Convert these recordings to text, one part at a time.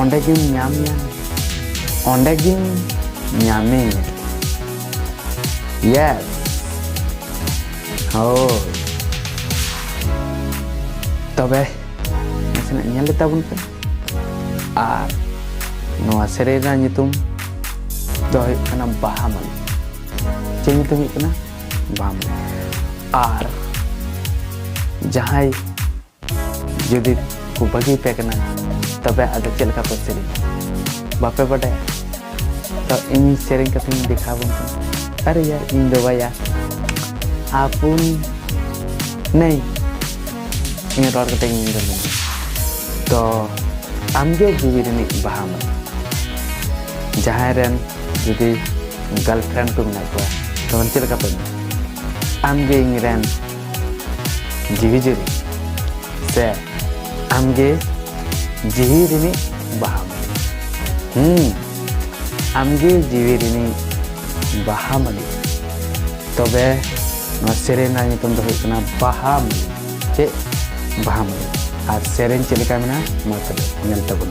ᱚᱸᱰᱮ ᱜᱮᱢ ᱧᱟᱢ ᱧᱟᱢᱮᱭᱟ ᱚᱸᱰᱮ ᱜᱮᱢ ᱧᱟᱢᱮᱭᱟ ᱭᱮᱥ ᱦᱳᱭ ᱛᱚᱵᱮ ᱱᱟᱥᱮᱱᱟᱜ ᱧᱮᱞ ᱞᱮ ᱛᱟᱵᱚᱱ ᱯᱮ ᱟᱨ ᱱᱚᱣᱟ ᱥᱮᱨᱮᱧ ᱨᱮᱱᱟᱜ ᱧᱩᱛᱩᱢ ᱫᱚ ᱦᱩᱭᱩᱜ ᱠᱟᱱᱟ ᱵᱟᱦᱟ ᱢᱟᱹᱞᱤ ᱪᱮᱫ ᱧᱩᱛᱩᱢ ᱦᱩᱭᱩᱜ ᱠᱟᱱᱟ ᱵᱟᱦᱟ ᱢᱟᱹᱞᱤ ᱟᱨ ᱡᱟᱦᱟᱸᱭ ᱡᱩᱫᱤ ᱠᱚ ᱵᱟᱹᱜᱤ ᱯᱮ ᱠᱟᱱᱟ ᱛᱚᱵᱮ ᱟᱫᱚ ᱪᱮᱫ ᱞᱮᱠᱟ ᱯᱮ ᱥᱮᱨᱮᱧ ᱵᱟᱯᱮ ᱵᱟᱰᱟᱭᱟ ᱛᱚ ᱤᱧ ᱥᱮᱨᱮᱧ ᱠᱟᱛᱮᱧ ᱫᱮᱠᱷᱟᱣ ᱵᱚᱱ ᱠᱟᱱᱟ ᱟᱨᱮ ᱭᱟᱨ ᱤᱧ ᱫᱚ ᱵᱟᱭᱟ ᱟᱯᱩᱱ ᱱᱟᱹᱭ ᱤᱧ ᱨᱚᱲ ᱠᱟᱛᱮ ᱤᱧ ᱫᱚ ᱛᱚ ᱟᱢᱜᱮ ᱡᱤᱣᱤ ᱨᱤᱱᱤᱡ ᱵᱟᱦᱟ ᱢᱟ ᱡᱟᱦᱟᱸᱭ ᱨᱮᱱ ᱡᱩᱫᱤ ᱜᱟᱨᱞᱯᱷᱨᱮᱱᱰ ᱠᱚ ᱢᱮᱱᱟᱜ ᱠᱚᱣᱟ ᱛᱚ ᱪᱮᱫ ᱞᱮᱠᱟ ᱯᱮ ᱟᱢᱜᱮ ᱤᱧ ᱨᱮᱱ ᱡᱤᱣᱤ ᱡᱤᱣᱤ ᱥᱮ ᱟᱢᱜᱮ ᱡᱤᱣᱤ ᱨᱤᱱᱤᱡ ᱵᱟᱦᱟ ᱦᱩᱸ ᱟᱢᱜᱮ ᱡᱤᱣᱤ ᱨᱤᱱᱤᱡ ᱵᱟᱦᱟ ᱢᱟᱹᱞᱤ ᱛᱚᱵᱮ ᱱᱚᱣᱟ ᱥᱮᱨᱮᱧ ᱨᱮᱱᱟᱜ ᱧᱩᱛᱩᱢ ᱫᱚ ᱦᱩᱭᱩᱜ ᱠᱟᱱᱟ ᱵᱟᱦᱟ ᱢᱟᱹᱞᱤ ᱪᱮᱫ ᱵᱟᱦᱟ ᱢᱟᱹᱞᱤ ᱟᱨ ᱥᱮᱨᱮᱧ ᱪᱮᱫ ᱞᱮᱠᱟ ᱢᱮᱱᱟᱜᱼᱟ ᱢᱟ ᱛᱚᱵᱮ ᱧᱮᱞ ᱛᱟᱵᱚᱱ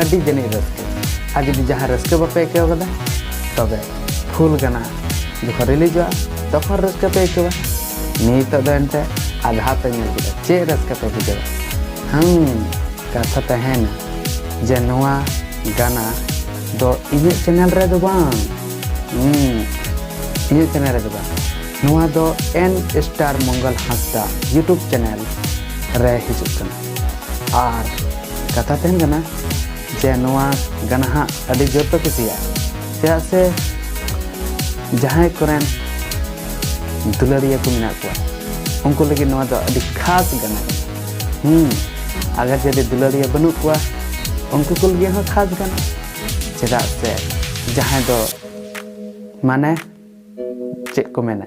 ᱟᱹᱰᱤ ᱡᱟᱹᱱᱤᱡ ᱨᱟᱹᱥᱠᱟᱹ ᱟᱨ ᱡᱩᱫᱤ ᱡᱟᱦᱟᱸ ᱨᱟᱹᱥᱠᱟᱹ ᱵᱟᱯᱮ ᱟᱹᱭᱠᱟᱹᱣ ᱠᱟᱫᱟ ᱛᱚᱵᱮ ᱯᱷᱩᱞ ᱜᱟᱱᱟ ᱡᱚᱠᱷᱚᱱ ᱨᱤᱞᱤᱡᱚᱜᱼᱟ ᱛᱚᱠᱷᱚᱱ ᱨᱟᱹᱥᱠᱟᱹ ᱯᱮ ᱟᱹᱭᱠᱟᱹᱣᱟ ᱱᱤᱛᱚᱜ ᱫᱚ ᱮᱱᱛᱮ ᱟᱫᱷᱟ ᱯᱮ ᱧᱮᱞ ᱠᱮᱫᱟ ᱪᱮᱫ ᱨᱟᱹᱥᱠᱟᱹ ᱯᱮ ᱵᱩᱡᱷᱟᱹᱣᱟ ᱦᱮᱸ ᱠᱟᱛᱷᱟ ᱛᱟᱦᱮᱱᱟ ᱡᱮ ᱱᱚᱣᱟ ᱜᱟᱱᱟ ᱫᱚ ᱤᱧᱟᱹᱜ ᱪᱮᱱᱮᱞ ᱨᱮᱫᱚ ᱵᱟᱝ ᱤᱧᱟᱹᱜ ᱪᱮᱱᱮᱞ ᱨᱮᱫᱚ ᱵᱟᱝ ᱱᱚᱣᱟ ᱫᱚ N star Mangal Hansda YouTube channel ᱨᱮ ᱦᱤᱡᱩᱜ ᱠᱟᱱᱟ ᱟᱨ ᱠᱟᱛᱷᱟ ᱛᱟᱦᱮᱱ ᱠᱟᱱᱟ ᱡᱮ ᱱᱚᱣᱟ ᱜᱟᱱᱟ ᱦᱟᱸᱜ ᱟᱹᱰᱤ ᱡᱳᱨ ᱯᱮ ᱠᱩᱥᱤᱭᱟᱜᱼᱟ ᱪᱮᱫᱟᱜ ᱥᱮ ᱡᱟᱦᱟᱸᱭ ᱠᱚᱨᱮᱱ ᱫᱩᱞᱟᱹᱲᱤᱭᱟᱹ ᱠᱚ ᱢᱮᱱᱟᱜ ᱠᱚᱣᱟ ᱩᱱᱠᱩ ᱞᱟᱹᱜᱤᱫ ᱱᱚᱣᱟ ᱫᱚ ᱟᱹᱰᱤ ᱠᱷᱟᱥ ᱜᱟᱱᱟ ᱦᱩᱸ ᱟᱜᱟᱨ ᱡᱩᱫᱤ ᱫᱩᱞᱟᱹᱲᱤᱭᱟᱹ ᱵᱟᱹᱱᱩᱜ ᱠᱚᱣᱟ ᱩᱱᱠᱩ ᱠᱚ ᱞᱟᱹᱜᱤᱫ ᱦᱚᱸ ᱠᱷᱟᱥ ᱜᱟᱱᱟ ᱪᱮᱫᱟᱜ ᱥᱮ ᱡᱟᱦᱟᱸᱭ ᱫᱚ ᱢᱟᱱᱮ ᱪᱮᱫ ᱠᱚ ᱢᱮᱱᱟ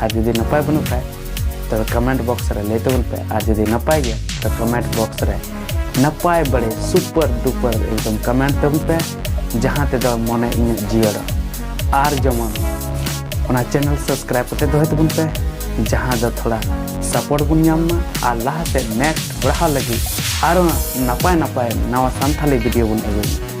ᱟᱨ ᱡᱩᱫᱤ ᱱᱟᱯᱟᱭ ᱵᱟᱹᱱᱩᱜ ᱠᱷᱟᱡ ᱛᱚᱵᱮ ᱠᱚᱢᱮᱱᱴ ᱵᱚᱠᱥ ᱨᱮ ᱞᱟᱹᱭ ᱛᱟᱵᱚᱱ ᱯᱮ ᱟᱨ ᱡᱩᱫᱤ ᱱᱟᱯᱟᱭ ᱜᱮᱭᱟ ᱛᱚ ᱠᱚᱢᱮᱱᱴ ᱵᱚᱠᱥ ᱨᱮ ᱱᱟᱯᱟᱭ ᱵᱟᱲᱮ ᱥᱩᱯᱟᱨ ᱰᱩᱯᱟᱨ ᱮᱠᱫᱚᱢ ᱠᱚᱢᱮᱱᱴ ᱛᱟᱵᱚᱱ ᱯᱮ ᱡᱟᱦᱟᱸ ᱛᱮᱫᱚ ᱢᱚᱱᱮ ᱤᱧᱟᱹᱜ ᱡᱤᱭᱟᱹᱲᱟ ᱟᱨ ᱡᱮᱢᱚᱱ ᱚᱱᱟ ᱪᱮᱱᱮᱞ ᱥᱟᱵᱥᱠᱨᱟᱭᱤᱵ ᱠᱟᱛᱮ ᱫᱚᱦᱚᱭ ᱛᱟᱵᱚᱱ ᱯᱮ ᱡᱟᱦᱟᱸ ᱫᱚ ᱛᱷᱚᱲᱟ ᱥᱟᱯᱳᱨᱴ ᱵᱚᱱ ᱧᱟᱢ ᱢᱟ ᱟᱨ ᱞᱟᱦᱟ ᱥᱮᱫ ᱱᱮᱠᱥᱴ ᱵᱟᱲᱦᱟᱣ ᱞᱟᱹᱜᱤᱫ ᱟᱨᱚ ᱱᱟᱯᱟᱭ ᱱᱟᱯᱟᱭ ᱱᱟᱣᱟ ᱥᱟᱱᱛᱷᱟᱞᱤ ᱵᱷᱤᱰᱤᱭᱳ ᱵᱚᱱ ᱟᱹᱜᱩᱭᱟ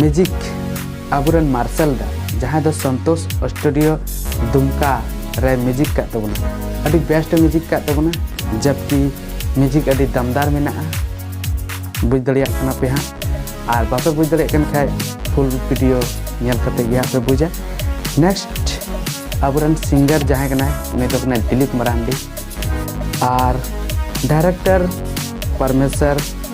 ᱢᱮᱡᱤᱠ ᱟᱵᱚᱨᱮᱱ ᱢᱟᱨᱥᱟᱞ ᱫᱟ ᱡᱟᱦᱟᱸᱭ ᱫᱚ ᱥᱚᱱᱛᱳᱥ ᱥᱴᱩᱰᱤᱭᱳ ᱫᱩᱢᱠᱟ ᱨᱮ ᱢᱮᱡᱤᱠ ᱠᱟᱜ ᱛᱟᱵᱚᱱᱟ ᱟᱹᱰᱤ ᱵᱮᱥᱴ ᱢᱮᱡᱤᱠ ᱠᱟᱜ ᱛᱟᱵᱚᱱᱟ ᱡᱟᱵᱠᱤ ᱢᱮᱡᱤᱠ ᱟᱹᱰᱤ ᱫᱟᱢᱫᱟᱨ ᱢᱮᱱᱟᱜᱼᱟ ᱵᱩᱡᱽ ᱫᱟᱲᱮᱭᱟᱜ ᱠᱟᱱᱟ ᱯᱮ ᱦᱟᱸᱜ ᱟᱨ ᱵᱟᱯᱮ ᱵᱩᱡᱽ ᱫᱟᱲᱮᱭᱟᱜ ᱠᱟᱱ ᱠᱷᱟᱡ ᱯᱷᱩᱞ ᱵᱷᱤᱰᱤᱭᱳ ᱧᱮᱞ ᱠᱟᱛᱮ ᱜᱮ ᱦᱟᱸᱜ ᱯᱮ ᱵᱩᱡᱟ ᱱᱮᱠᱥᱴ ᱟᱵᱚᱨᱮᱱ ᱥᱤᱝᱜᱟᱨ ᱡᱟᱦᱟᱸᱭ ᱠᱟᱱᱟᱭ ᱩᱱᱤ ᱫᱚ ᱠᱟᱱᱟᱭ ᱫᱤᱞᱤᱯ ᱢᱟᱨᱟᱱᱰᱤ ᱟᱨ ᱰᱟᱭᱨᱮᱠᱴᱚᱨ ᱯᱚᱨᱢᱮᱥᱚᱨ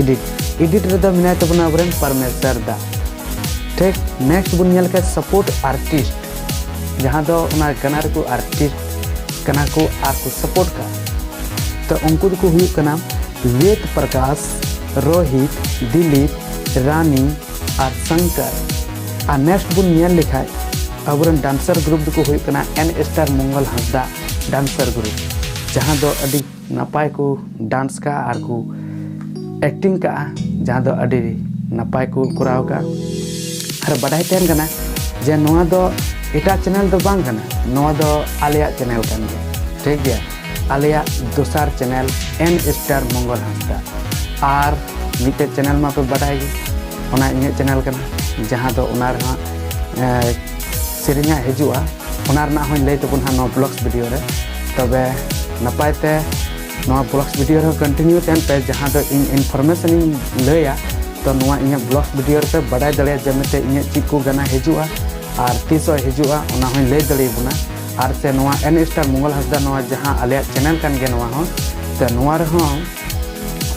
ᱮᱰᱤᱴ ᱮᱰᱤᱴ ᱨᱮᱫᱚ ᱢᱮᱱᱟᱭ ᱛᱟᱵᱚᱱᱟ ᱟᱵᱚᱨᱮᱱ ᱯᱟᱨᱢᱮᱥᱟᱨ ᱫᱟ ᱴᱷᱤᱠ ᱱᱮᱠᱥᱴ ᱵᱚᱱ ᱧᱮᱞ ᱠᱷᱟᱱ ᱥᱟᱯᱳᱨᱴ ᱟᱨᱴᱤᱥᱴ ᱡᱟᱦᱟᱸ ᱫᱚ ᱚᱱᱟ ᱜᱟᱱᱟ ᱨᱮᱠᱚ ᱟᱨᱴᱤᱥᱴ ᱠᱟᱱᱟ ᱠᱚ ᱟᱨ ᱠᱚ ᱥᱟᱯᱳᱨᱴ ᱠᱟ ᱛᱚ ᱩᱱᱠᱩ ᱫᱚᱠᱚ ᱦᱩᱭᱩᱜ ᱠᱟᱱᱟ ᱵᱮᱫ ᱯᱨᱚᱠᱟᱥ ᱨᱳᱦᱤᱛ ᱫᱤᱞᱤᱯ ᱨᱟᱱᱤ ᱟᱨ ᱥᱚᱝᱠᱚᱨ ᱟᱨ ᱱᱮᱠᱥᱴ ᱵᱚᱱ ᱧᱮᱞ ᱞᱮᱠᱷᱟᱱ ᱟᱵᱚᱨᱮᱱ ᱰᱟᱱᱥᱟᱨ ᱜᱨᱩᱯ ᱫᱚᱠᱚ ᱦᱩᱭᱩᱜ ᱠᱟᱱᱟ ᱮᱱ star Mangal Hansda dancer group ᱡᱟᱦᱟᱸ ᱫᱚ ᱟᱹᱰᱤ ᱱᱟᱯᱟᱭ ᱠᱚ ᱰᱟᱱᱥ ᱠᱟᱜᱼᱟ ᱟᱨ ᱠᱚ ᱮᱠᱴᱤᱝ ᱠᱟᱜᱼᱟ ᱡᱟᱦᱟᱸ ᱫᱚ ᱟᱹᱰᱤ ᱱᱟᱯᱟᱭ ᱠᱚ ᱠᱚᱨᱟᱣ ᱠᱟᱜᱼᱟ ᱟᱨ ᱵᱟᱰᱟᱭ ᱛᱟᱦᱮᱱ ᱠᱟᱱᱟ ᱡᱮ ᱱᱚᱣᱟ ᱫᱚ ᱮᱴᱟᱜ ᱪᱮᱱᱮᱞ ᱫᱚ ᱵᱟᱝ ᱠᱟᱱᱟ ᱱᱚᱣᱟ ᱫᱚ ᱟᱞᱮᱭᱟᱜ ᱪᱮᱱᱮᱞ ᱠᱟᱱ ᱜᱮᱭᱟ ᱴᱷᱤᱠ ᱜᱮᱭᱟ ᱟᱞᱮᱭᱟᱜ ᱫᱚᱥᱟᱨ channel N star Mangal Hansda ᱟᱨ ᱢᱤᱫᱴᱮᱡ ᱪᱮᱱᱮᱞ ᱢᱟᱯᱮ ᱵᱟᱰᱟᱭ ᱜᱮ ᱚᱱᱟ ᱤᱧᱟᱹᱜ ᱪᱮᱱᱮᱞ ᱠᱟᱱᱟ ᱡᱟᱦᱟᱸ ᱫᱚ ᱚᱱᱟ ᱨᱮᱦᱚᱸ ᱥᱮᱨᱮᱧᱟᱜ ᱦᱤᱡᱩᱜᱼᱟ ᱚᱱᱟ ᱨᱮᱱᱟᱜ ᱦᱚᱸᱧ ᱞᱟᱹᱭ ᱛᱟᱵᱚᱱ ᱦᱟᱸᱜ ᱱᱚᱣᱟ ᱵᱞᱚᱜᱥ ᱵᱷᱤᱰᱤᱭᱳ ᱨᱮ ᱛᱚᱵᱮ ᱱᱟᱯᱟᱭ ᱛᱮ ᱱᱚᱣᱟ ᱵᱞᱚᱜᱥ ᱵᱷᱤᱰᱤᱭᱳ ᱨᱮᱦᱚᱸ ᱠᱚᱱᱴᱤᱱᱤᱭᱩ ᱛᱟᱦᱮᱱ ᱯᱮ ᱡᱟᱦᱟᱸ ᱫᱚ ᱤᱧ ᱤᱱᱯᱷᱚᱨᱢᱮᱥᱚᱱ ᱤᱧ ᱞᱟᱹᱭᱟ ᱛᱚ ᱱᱚᱣᱟ ᱤᱧᱟᱹᱜ ᱵᱞᱚᱜᱥ ᱵᱷᱤᱰᱤᱭᱳ ᱨᱮᱯᱮ ᱵᱟᱰᱟᱭ ᱫᱟᱲᱮᱭᱟᱜᱼᱟ ᱡᱮ ᱢᱮᱱᱛᱮ ᱤᱧᱟᱹᱜ ᱪᱮᱫ ᱠᱚ ᱜᱟᱱᱟ ᱦᱤᱡᱩᱜᱼᱟ ᱟᱨ ᱛᱤᱥᱚᱜ ᱦᱤᱡᱩᱜᱼᱟ ᱚᱱᱟ ᱦᱚᱸᱧ ᱞᱟᱹᱭ ᱫᱟᱲᱮᱭᱟᱵᱚᱱᱟ ᱟᱨ ᱥᱮ ᱱᱚᱣᱟ ᱮᱱ ᱥᱴᱟᱨ ᱢᱚᱝᱜᱚᱞ ᱦᱟᱸᱥᱫᱟ ᱱᱚᱣᱟ ᱡᱟᱦᱟᱸ ᱟᱞᱮᱭᱟᱜ ᱪᱮᱱᱮᱞ ᱠᱟᱱ ᱜᱮᱭᱟ ᱱᱚᱣᱟ ᱦᱚᱸ ᱛᱚ ᱱᱚᱣᱟ ᱨᱮᱦᱚᱸ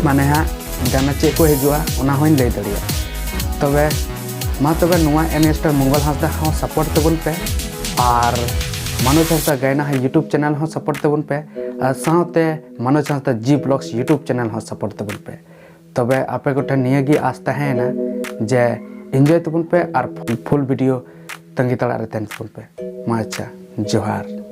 ᱢᱟᱱᱮ ᱦᱟᱸᱜ ᱜᱟᱱᱟ ᱪᱮᱫ ᱠᱚ ᱦᱤᱡᱩᱜᱼᱟ ᱚᱱᱟ ᱦᱚᱸᱧ ᱞᱟᱹᱭ ᱫᱟᱲᱮᱭᱟᱜᱼᱟ ᱛᱚᱵᱮ ᱢᱟ ᱛᱚᱵᱮ ᱱᱚᱣᱟ ᱮᱱᱮᱥᱴᱟᱨ ᱢᱚᱝᱜᱚᱞ ᱦᱟᱸᱥᱫᱟ ᱦᱚᱸ ᱥᱟᱯᱳᱨᱴ ᱛᱟᱵᱚᱱ ᱯᱮ ᱟᱨ ᱢᱟᱱᱚᱡᱽ ᱦᱟᱸᱥᱫᱟ ᱜᱟᱭᱱᱟ ᱦᱚᱸ ᱤᱭᱩᱴᱩᱵᱽ ᱪᱮᱱᱮᱞ ᱦᱚᱸ ᱥᱟᱯᱳᱨᱴ ᱛᱟᱵᱚᱱ ᱯᱮ ᱟᱨ ᱥᱟᱶᱛᱮ Manoj Hansda ji vlogs YouTube channel ᱦᱚᱸ ᱥᱟᱯᱳᱨᱴ ᱛᱟᱵᱚᱱ ᱯᱮ ᱛᱚᱵᱮ ᱟᱯᱮ ᱠᱚᱴᱷᱮᱱ ᱱᱤᱭᱟᱹ ᱜᱮ ᱟᱥ ᱛᱟᱦᱮᱸᱭᱮᱱᱟ ᱡᱮ ᱤᱱᱡᱚᱭ ᱛᱟᱵᱚᱱ ᱯᱮ ᱟᱨ ᱯᱷᱩᱞ ᱵᱷᱤᱰᱤᱭᱳ ᱛᱟᱺᱜᱤ ᱛᱟᱲᱟᱜ ᱨᱮ ᱛᱟᱦᱮᱱ ᱛᱟᱵᱚᱱ ᱯᱮ ᱢᱟ ᱟᱪᱪᱷᱟ ᱡᱚᱦᱟᱨ